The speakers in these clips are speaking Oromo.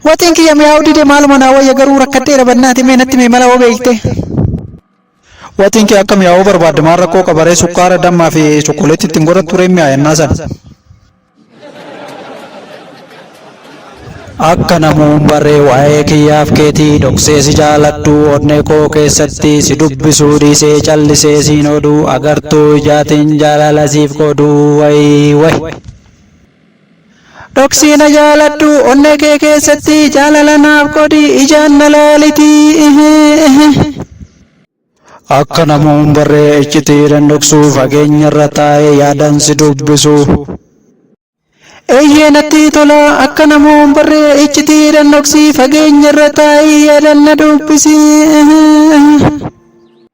Waxiin kiyya mi'aawuu dide maaluma naa wayya garuu rakkadheera bannaati mee natti mee mala hoo beekte. Waxiin kee akka mi'aawuu barbaadde maal rakkoo qaba ree sukkaara dammaa fi chokkoleetti ittiin godhattu ree mi'aa yennaa sana. Akka namuun barree waa'ee kiyyaaf keetii dhoksee si jaaladhu onnee koo keessatti si dubbisuu dhiisee callisee siin oodhu agartuu ijaatiin jaalala siif qoodu wayi wayi. Dhoksii na jaaladhu onnee kee keessatti jaalala naaf godhi ijaan na laaliti ihii ihii. Akka nama hin barree iccitiidhan dhoksu fageenyarra taa'ee yaadan si dubbisu. Eeyyee natti tola akka nama hin barree iccitiidhan dhoksi fageenyarra taa'ee yaadan na dubbisi.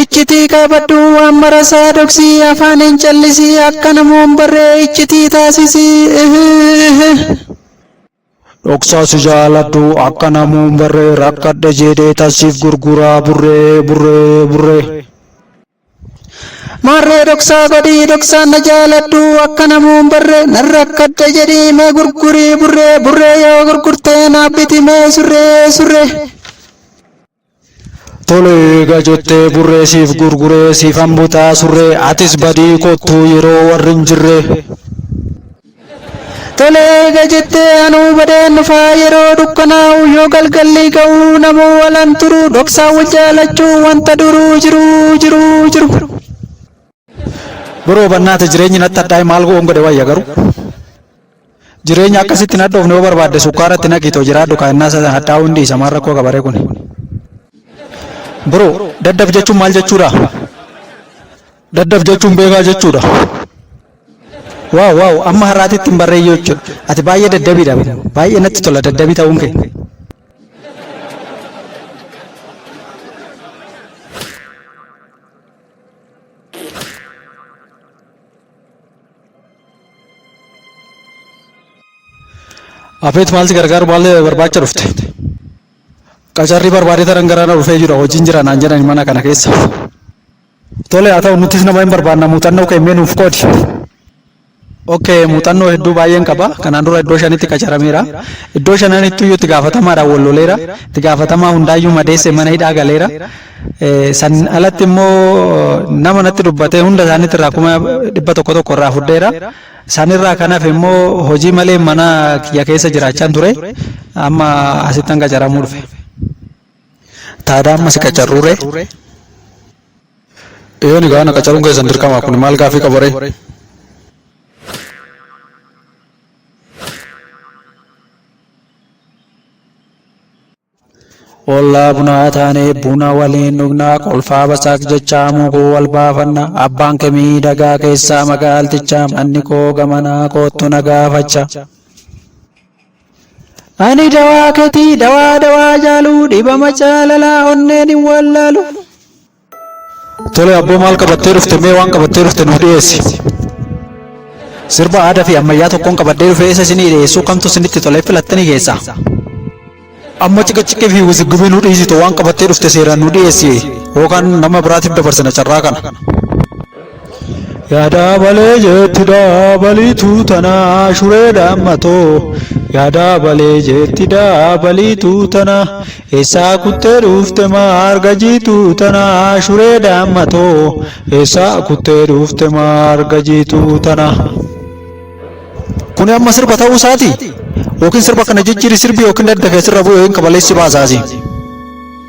Iccitii qaabadhu waan marasaa dhoksii afaan hin callisii akka namoon barree iccitii taasisii ihihihih. Dhoksaa si jaaladhu akka namoon barree rakkadhe jeedhee tassiif gurguraa burree burree burree. Maarree dhoksaa godhii dhoksaan na jaaladhu akka namoon barree nan rakkadhe jedhii mee gurgurii burree burree yoo gurgurtee naaf biti mee surree surree. Tolee eega jettee burree siif gurguree siifan butaa surree atis badii kottuu yeroo warri hin jirree. Tolee eega jettee anuu badeen dhufaa yeroo dukkanaa'u yoo galgalli ga'u namuu walan turu dhoksaan wal jaalachuu wanta duruu jiruu jiruu jiru. Biroo bannaata jireenyi natti hadhaa'e maal goon godhe wayya garuu. Jireenya akkasitti hin hadhoofne yoo barbaadde sukkaaratti naqiitoo jiraadhu kaa'innaasa sana hadhaa'uu hin dhiisa maal rakkoo qabaree kuni. Biroo daddaf jechuun maal jechuudha? Daddaf jechuun beekaa jechuudha. Waaw waaw amma har'aatitti hin barreeyyuu jechuudha. Ati baay'ee daddabiidha. Baay'ee natti tola daddabii ta'uun kee. Afeet maalti gargaaru maal barbaacha dhufte? Qacarrii barbaadee taran gara na dhufee jira hojiin jira naan jedhani mana kana keessa. Tole haa ta'u nuttis nama hin barbaanna muuxannoo kee mee nuuf qoodi. Ok muuxannoo hedduu baay'een qaba kanaan dura iddoo shanitti qacarameera iddoo shananittuu iyyuu itti gaafatamaadhaan wal loleera itti gaafatamaa hundaayyuu madeesse mana hidhaa galeera Eh, san alatti immoo nama natti dubbatee hunda isaaniitti irraa kuma dhibba tokko tokko irraa fudheera sanirraa kan hafe immoo hojii malee mana kiyya keessa jiraachaan ture amma asittan qacaramuu dhufe. Taadaa amma si qacarruu ree? Eeyyeen egaa ana qacaruun keessan dirqama kun maal gaaffii qaba ree? Ollaa bunaa taanee buna waliin dhugnaa kolfaa basaaq jechaa muguu wal baafanna abbaan kee miidhagaa keessaa magaaltichaa manni koo gamanaa koottu na gaafacha. Ani dawaa ketii dawaa dawaa jaaluu dhibama jaalalaa onneen hin wallaalu. Tole abboo maal qabattee dhufte mee waan qabattee dhufte nuuf dhiyeessi. Sirba aadaa fi ammayyaa tokkoon qabadhee dhufee isa isinii dhiyeessuu kamtu isinitti tolee filattanii keessaa. Amma cika cika fi wiziggubii nu dhiisitu waan qabattee dhufte seeraan nu dhiyeessi yookaan nama biraatiif dabarsina carraa kana. Yaadaa balee jeetti daabaliituu tanaa shuree dhaammatoo Yaadaa balee jeetti daabaliituu tanaa Eessaa kuttee dhuufte maarga jiituu tanaa shuree dhaammatoo Eessaa kuttee dhuufte maarga jiituu tanaa Kuni amma sirba ta'uu isaati yookiin sirba kana jijjiiri sirbi yookiin dadda keessirra bu'e yookiin kabaleessi baasaasi.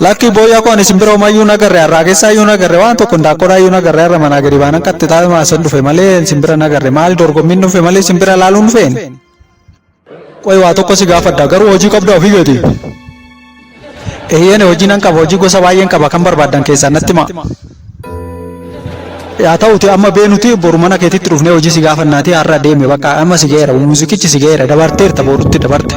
Lakkii booyyaa koo ani simbira homaa iyyuu nagarre har'aa keessaa iyyuu nagarre waan tokko hindaaqqoodhaa iyyuu nagarre har'a manaa gadi baanan qaxxi taa'ee maasan dhufe malee simbira nagarre maali dorgommiin dhufe malee simbira laaluun dhufeen. Qoy waa tokko si gaafadha garuu hojii qabda ofii keeti. Eeyyeen hojii nan qaba hojii gosa baay'een qaba kan barbaadan keessaa natti himaa. Yaa ta'uti amma beenuti boru mana keetitti dhufnee hojii si gaafannaati har'a deeme bakka amma si ga'eera muuziqichi si ga'eera dabarteerta boorutti dabarte.